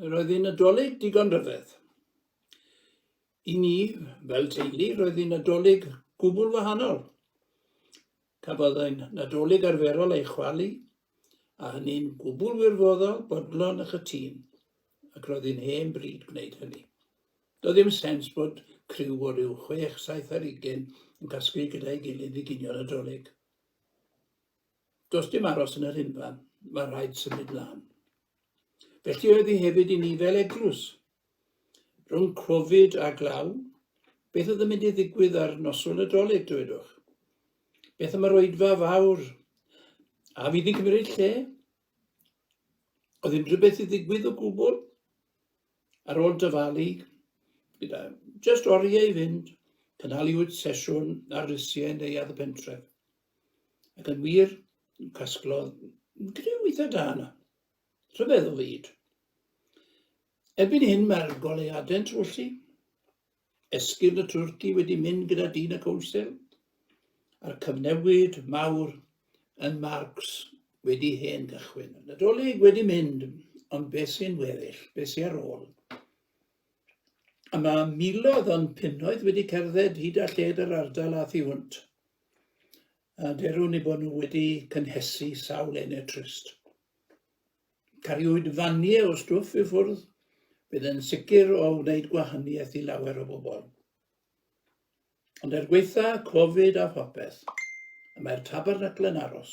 Roedd hi'n Nadolig digon rhyfedd. I ni, fel teulu, roedd hi'n Nadolig gwbl wahanol. Cafodd ein Nadolig arferol ei chwalu, a hynny'n gwbl wirfoddol, bodlon a chytun, ac roedd hi'n hen bryd gwneud hynny. Doedd ddim sens bod criw o ryw chwech, saith ar ugen yn casglu gyda'i gilydd i ginio Nadolig. Does dim aros yn yr hyn fan, mae rhaid symud lan. Felly oedd hi hefyd i ni fel eglwys. Rhwng Covid a glaw, beth oedd yn mynd i ddigwydd ar noswyl y droleg, dywedwch? Beth am yr oedfa fawr? A fydd hi'n cymryd lle? Oedd unrhyw beth i ddigwydd o gwbl? Ar ôl dyfalu, gyda just oriau i fynd, cynhaliwyd sesiwn ar lysiau yn neuadd y pentref. Ac yn wir, casglodd griw eitha da yna. Rhyfedd o fyd. Erbyn hyn mae'r goleuadau'n trwyllu. Esgyrn y twrci wedi mynd gyda dyn y cownsel, a'r cyfnewid mawr yn Marks wedi hen gychwyn. Nadolig wedi mynd, ond beth sy'n weddill, beth sy'n ar ôl? A mae miloedd o'n punnoedd wedi cerdded hyd a lled yr ardal a thu hwnt. a derwn i bod nhw wedi cynhesu sawl ene trist. Cariwyd fanie o stwff i ffwrdd, bydd yn sicr o wneud gwahaniaeth i lawer o bobl. Ond er gweitha Covid a phopeth, y mae'r tabernacle yn aros,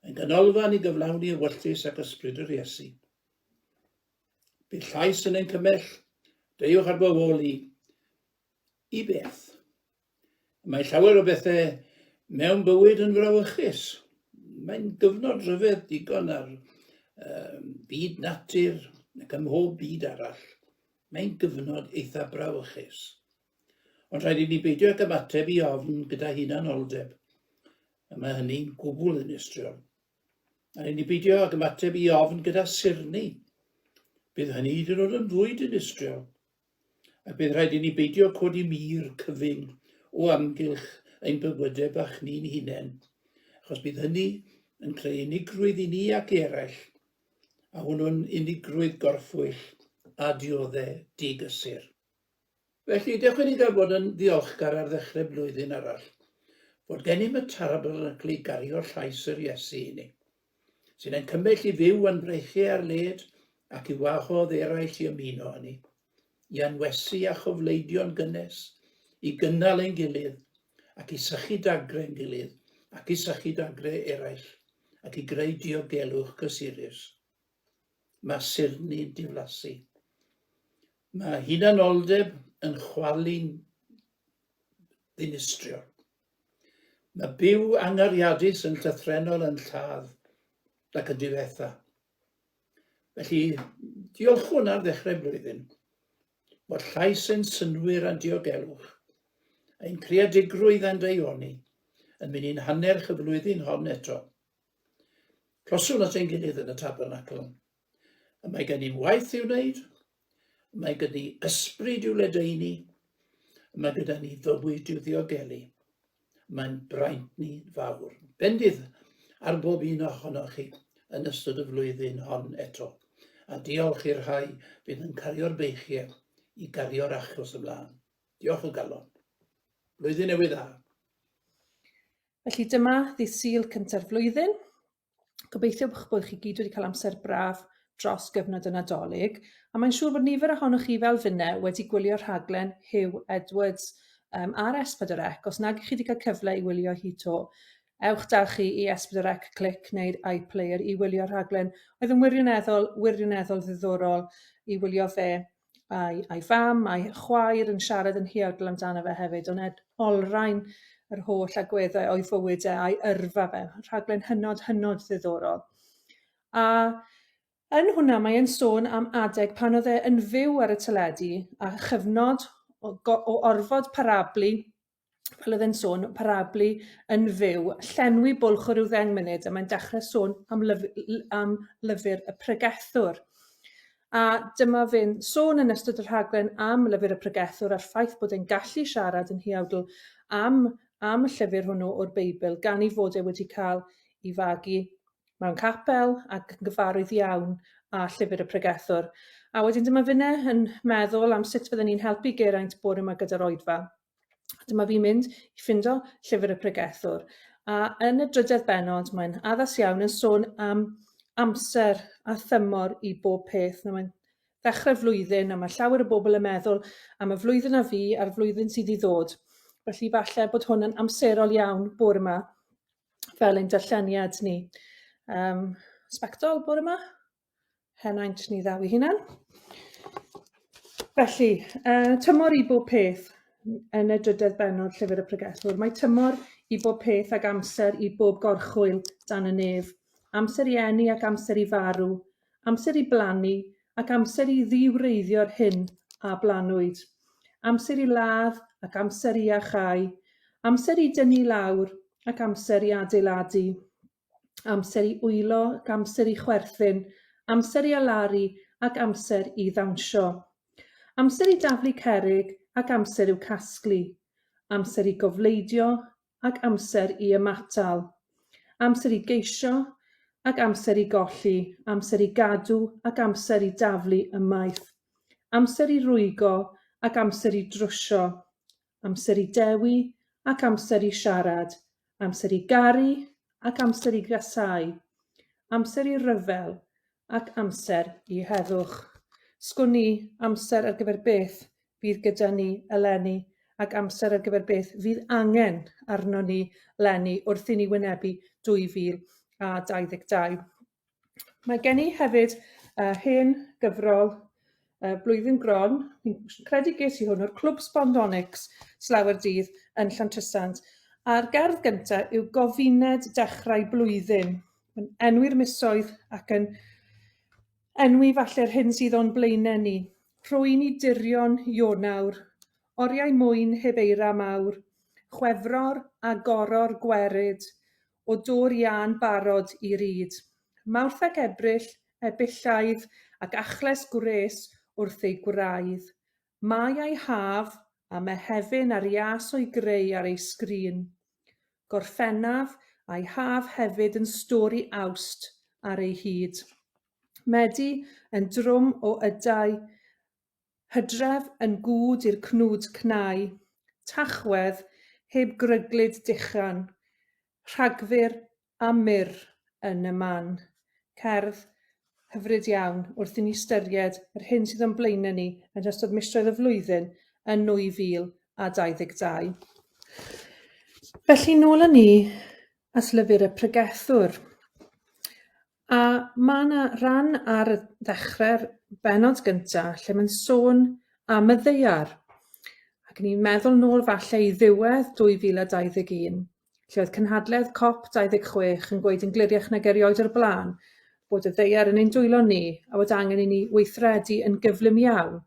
yn ganolfan i gyflawni y wylltys ac ysbryd yr Iesu. Bydd llais yn ein cymell, deuwch ar bywoli, i beth? Mae llawer o bethau mewn bywyd yn frawychus. Mae'n gyfnod rhyfedd digon ar um, byd natur ac ym mhob byd arall. Mae'n gyfnod eitha brawychus. Ond rhaid i ni beidio ag ymateb i ofn gyda hunanoldeb. A mae hynny'n gwbl yn estriol. A rhaid ni beidio ag ymateb i ofn gyda sirni. Bydd hynny hyd yn oed yn fwy dinistriol. A bydd rhaid i ni beidio codi mur cyfyng o amgylch ein bywydau bach ni'n hunain, achos bydd hynny yn creu unigrwydd i ni ac i eraill, a hwnnw'n unigrwydd gorffwyll a dioddef digysur. Felly, dewch i ni gael bod yn ddiolchgar ar ddechrau blwyddyn arall, fod gennym y Tabernacl i gario llais yr Iesu i ni. sy'n ein cymell i fyw yn breichiau ar led ac i wahodd eraill i ymuno â ni, i anwesu a chofleidio'n gynnes, i gynnal ein gilydd, ac i sychu dagre'n gilydd, ac i sychu dagre eraill, ac i greu diogelwch cysurus. Mae sirni'n diflasu. Mae hunanoldeb yn chwalu'n ddinistriol. Mae byw angariadus yn llythrenol yn lladd nac yn difetha. Felly, diolchwn ar ddechrau blwyddyn bod llais ein synwyr a'n diogelwch, ein creadigrwydd a'n deioni yn mynd i'n hannerch y flwyddyn hon eto. Closwn at ein gilydd yn y tabernacl. Y mae gen i'n waith i'w wneud, y mae gen i ysbryd i'w ledaenu, y mae gyda ni fywyd i'w ddiogelu. Mae'n braint ni fawr. Bendith ar bob un ohonoch chi yn ystod y flwyddyn hon eto, a diolch i'r rhai fydd yn cario'r beichiau i gario'r achos ymlaen. Diolch o galon. Blwyddyn newydd dda. Felly dyma ddydd Sul cynta'r flwyddyn. Gobeithio bych bod chi gyd wedi cael amser braf dros gyfnod y Nadolig, a mae'n siŵr bod nifer ohonoch chi fel finne wedi gwylio rhaglen Hugh Edwards um, ar S4C. Os nag chi wedi cael cyfle i wylio hi to, ewch da chi i S4C Click neu'r iPlayer i wylio rhaglen oedd yn wirioneddol, wirioneddol ddiddorol i wylio fe a'i, a'i fam, a'i chwaer yn siarad yn huawdl amdano fe hefyd, ond ed, olrhain yr holl agweddau o'i fywyd e a'i yrfa fe. Rhaglen hynod, hynod ddiddorol. A yn hwnna mae e'n sôn am adeg pan oedd e yn fyw ar y teledu a chyfnod o, o orfod parablu fel oedd e'n sôn, parablu yn fyw, llenwi bwlch o ryw ddeng munud, a mae'n dechrau sôn am, lyf, am lyfr y pregethwr. A dyma fe'n sôn yn ystod y rhaglen am lyfr y pregethwr a'r ffaith bod e'n gallu siarad yn hiawdl am, am y llyfr hwnnw o'r Beibl, gan ei fod e wedi cael ei fagu mewn capel ac yn gyfarwydd iawn â llyfr y pregethwr. A wedyn dyma finne yn meddwl am sut fydden ni'n helpu Geraint bore yma gyda'r oedfa. Dyma fi'n mynd i ffindo llyfr y pregethwr. A yn y drydedd benod, mae'n addas iawn yn sôn am amser a thymor i bob peth. Na, mae'n ddechrau flwyddyn a mae llawer o bobl yn meddwl am y flwyddyn a fi a'r flwyddyn sydd i ddod. Felly falle bod hwn yn amserol iawn bore yma fel ein darlleniad ni. Um, sbectol bore yma? henaint ni ddaw i hunan. Felly, uh, tymor i bob peth yn y drydedd benod Llyfr y Pregethwr. Mae tymor i bob peth ac amser i bob gorchwyl dan y nef. Amser i enni ac amser i farw. Amser i blannu ac amser i ddiwreiddio'r hyn a blanwyd. Amser i ladd ac amser i achau. Amser i dynnu lawr ac amser i adeiladu. amser i wylo, amser i chwerthin, amser i alaru ac amser i ddawnsio. Amser i daflu cerrig ac amser i'w casglu. Amser i gofleidio ac amser i ymatal. Amser i geisio ac amser i golli, amser i gadw ac amser i daflu ymaith. Amser i rwygo ac amser i drwsio. amser i dewi ac amser i siarad, amser i garu ac amser i gasáu, amser i ryfel ac amser i heddwch. Sgwn i, amser ar gyfer beth fydd gyda ni eleni ac amser ar gyfer beth fydd angen arnon ni 'leni wrth i ni wynebu 2022. Mae gen i hefyd yy hen gyfrol yy Blwyddyn Gron, fi'n credu ges i hwn o'r Clwb Sbondonics slawer dydd yn Llantrisant, a'r gerdd gynta yw Gofined Dechrau Blwyddyn, yn enwi'r misoedd ac yn enwi falle'r hyn sydd o'n blaenau ni. Rhwy'n i dirion Ionawr, oriau mwyn heb eira mawr, Chwefror a goror gwerid, o dŵr iâ'n barod i ryd. Mawrth ac Ebrill, Ebyllaidd ac achles gwres wrth eu gwraidd. Mai a'i haf, a Mehefin a'r ias o'i greu ar ei sgrin. Gorffennaf a'i haf hefyd yn stwr i Awst ar ei hyd. Medi yn drwm o ydau Hydref yn gŵd i'r cnwd cnau, Tachwedd heb gryglyd dechan, Rhagfyr a mur yn y man. Cerdd hyfryd iawn wrth i ni ystyried yr hyn sydd o'n blaenau ni yn ystod misoedd y flwyddyn yn 2022. Felly, nôl â ni at lyfr y pregethwr. A ma' 'na ran ar y ddechre'r bennod gynta lle ma'n sôn am y ddaear ac o'n i'n meddwl nôl falle i ddiwedd 2021 lle oedd cynhadledd cop 26 yn gweud yn gliriach nag erioed o'r bla'n bod y ddaear yn ein dwylo ni a bod angen i ni weithredu yn gyflym iawn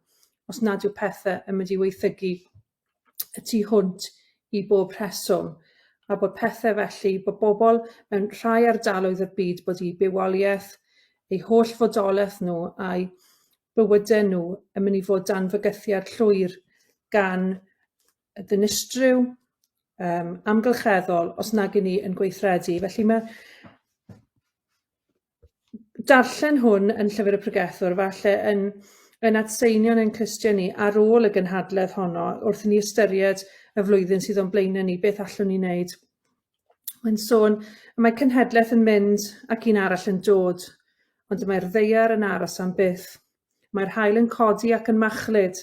os nad yw pethe yn mynd i waethygu y tu hwnt i bob rheswm, a bod pethau felly, bod bobl mewn rhai ardaloedd o'r byd bod eu bywoliaeth, eu holl fodolaeth nhw a'u bywydau nhw yn mynd i fod dan fygythiad llwyr gan y dinistryw um, amgylcheddol os nag i ni yn gweithredu. Felly mae darllen hwn yn Llyfr y Pregethwr, falle yn, yn adseinio'n ein clustiau ni ar ôl y gynhadledd honno, wrth ni ystyried y flwyddyn sydd o'n blaenau ni, beth allwn ni wneud. Mae'n sôn, mae cenhedlaeth yn mynd ac un arall yn dod, ond mae'r ddeiar yn aros am byth. Mae'r haul yn codi ac yn machlud,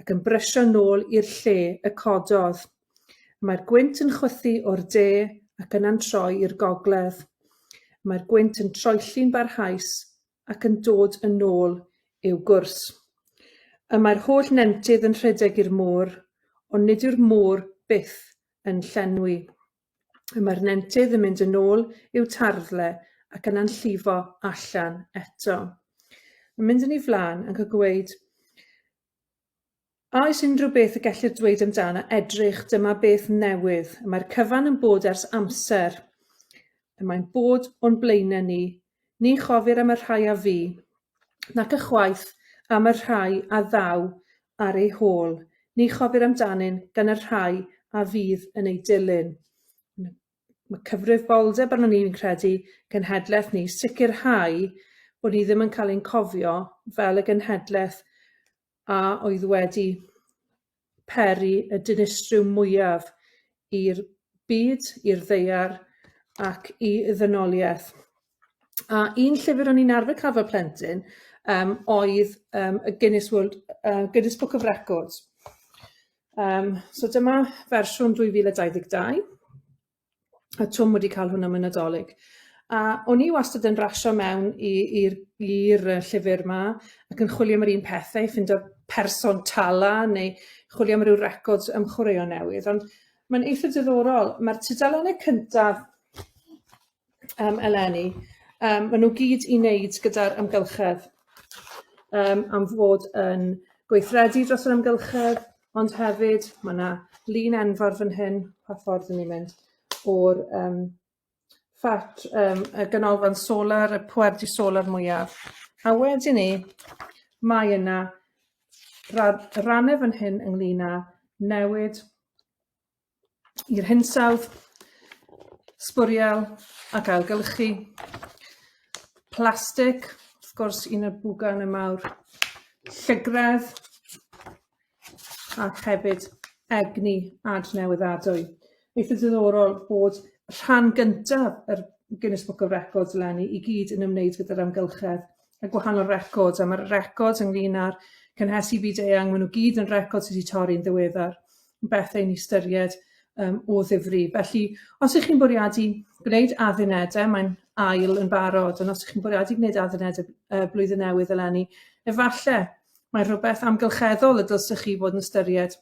ac yn brysio nôl i'r lle y cododd. Mae'r gwynt yn chwythu o'r de ac yna'n troi i'r gogledd. Mae'r gwynt yn troelli'n barhaus ac yn dod yn ôl i'w gwrs. Y mae'r holl nentydd yn rhedeg i'r môr, ond nid yw'r môr byth yn llenwi. y mae'r nentydd yn mynd yn ôl i'w tarddle ac yna'n llifo allan eto. Yn mynd yn ei flaen ac yn gweud, A oes unrhyw beth y gellir dweud amdano edrych, dyma beth newydd. Y mae'r cyfan yn bod ers amser. Y mae'n bod o'n blaenau ni Ni chofir am y rhai a fu, nac ychwaith am y rhai a ddaw ar eu hôl, ni chofir amdanyn gan y rhai a fydd yn eu dilyn. Mae cyfrifoldeb arnon ni, fi'n credu, genhedlaeth ni, sicrhau bod ni ddim yn cael ein cofio fel y genhedlaeth a oedd wedi peri y dinistryw mwyaf i'r byd, i'r ddaear ac i ddynoliaeth. A un llyfr o'n i'n arfer cael fel plentyn um, oedd um, y Guinness, World, uh, Guinness Book of Records. Um, so dyma fersiwn 2022. a Twm wedi cael hwnna mewn Nadolig. A o'n i wastad yn rasio mewn i'r llyfr yma ac yn chwilio am yr un pethau, ffindo person tala neu chwilio am ryw records am chwaraeon newydd. Ond mae'n eitha diddorol. Mae'r tudalennau cyntaf um, eleni, um, maen nhw gyd i wneud gyda'r amgylchedd um, am fod yn gweithredu dros yr amgylchedd, Ond hefyd ma' 'na lun enfawr fan hyn pa ffordd 'yn ni'n mynd o'r yym ffat yym y ganolfan solar y pwerdy solar mwyaf a wedyn 'ny mae yna radd- ranne fan hyn ynglŷn â newid i'r hinsawdd, sbwriel ac ailgylchu. Plastig, wrth gwrs, un o'r bwgan y mawr. Llygredd ac hefyd egni adnewyddadwy. Eitha diddorol bod rhan gyntaf yr Guinness Book of Records eleni i gyd yn ymwneud gyda'r amgylchedd y gwahanol records, a mae'r records ynglyn â'r cynhesu byd-eang, maen nhw gyd yn records sydd wedi torri'n ddiweddar, yn bethau i ni ystyried um, o ddifri. Felly, os ych chi'n bwriadu gwneud addunedau, mae'n ail yn barod, ond os ych chi'n bwriadu gwneud addunedau uh, blwyddyn newydd eleni, efallai mae rhywbeth amgylcheddol y dylsych chi fod yn ystyried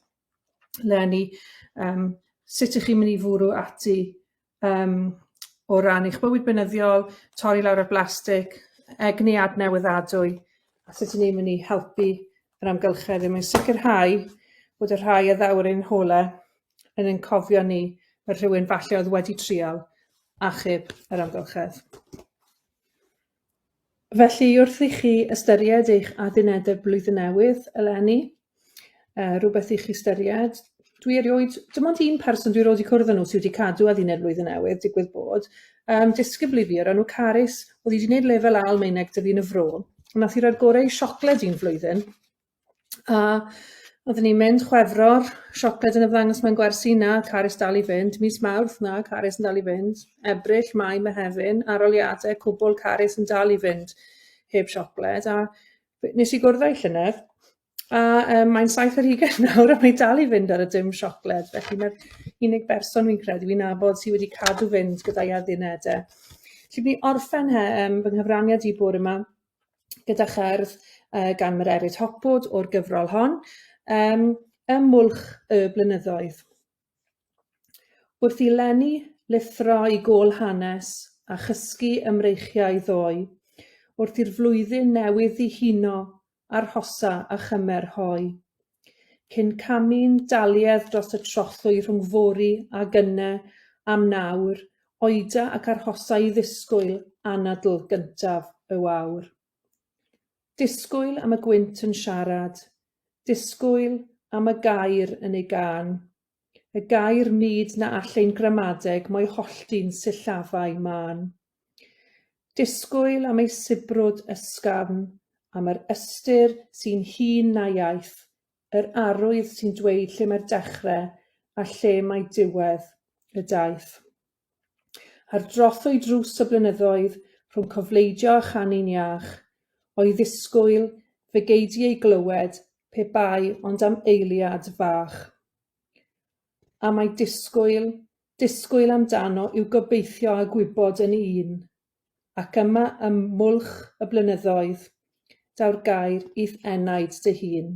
leni yym sut ych chi'n mynd i fwrw ati yym o ran eich bywyd beunyddiol, torri lawr ar blastig, egni adnewyddadwy, a sut 'yn ni'n mynd i helpu yr amgylchedd er mwyn sicrhau bod y rhai a ddaw'r ein hole yn ein cofio ni fel rhywun falle oedd wedi trial achub yr amgylchedd. Felly, wrth i chi ystyried eich addunedau Blwyddyn Newydd eleni, uh, rhywbeth i chi ystyried, dwi erioed, dim ond un person dwi roed i cwrdd â nhw sydd wedi cadw adduned Blwyddyn Newydd, digwydd bod, um, disgybl i fi o'r enw Carys, oedd wedi gwneud lefel A Almaeneg dyfu yn y fro, nath i roi'r gorau i siocled un flwyddyn, A oedden ni'n mynd Chwefror, siocled yn ymddangos mewn gwersi, na, Carys dal i fynd. Mis Mawrth, na, Carys yn dal i fynd. Ebrill, Mai, Mehefin, aroliadau, cwbl, Carys yn dal i fynd heb siocled. A nes i gwrdd â'i llynedd, a um, mae'n saith ar hugain nawr a mae'n dal i fynd ar y dim siocled. Felly mae'r unig berson fi'n credu fi'n nabod sydd wedi cadw fynd gyda'i addunedau. Felly fi'n orffen he, um, fy nghyfraniad i bwr yma gyda cherdd yy gan Mererid Hopwood o'r gyfrol hon yym ym Mwlch y Blynyddoedd. Wrth i Lenny lithro i gôl hanes a chysgu ymreichiau ddoe, wrth i'r flwyddyn newydd ddihuno, arhosa a chymer hoe. cyn camu'n daliedd dros y trothwy rhwng fory a gynne am nawr oeda ac arhosa i ddisgwyl anadl gyntaf y wawr. Disgwyl am y gwynt yn siarad, disgwyl am y gair yn ei gân. y gair nid na all ein gramadeg mo'i hollti'n sillafau mân. Disgwyl am ei sibrwd ysgafn, am yr ystyr sy'n hŷn na iaith, yr arwydd sy'n dweud lle mae'r dechre a lle mae diwedd y daith. Ar drothwy drws y blynyddoedd, rhwng cofleidio a chanu'n iach, o'i ddisgwyl fe gei di ei glywed pe bai ond am eiliad fach. A mae disgwyl, disgwyl amdano yw gobeithio a gwybod yn un. Ac yma ym Mwlch y Blynyddoedd, daw'r gair i'th enaid dy hun.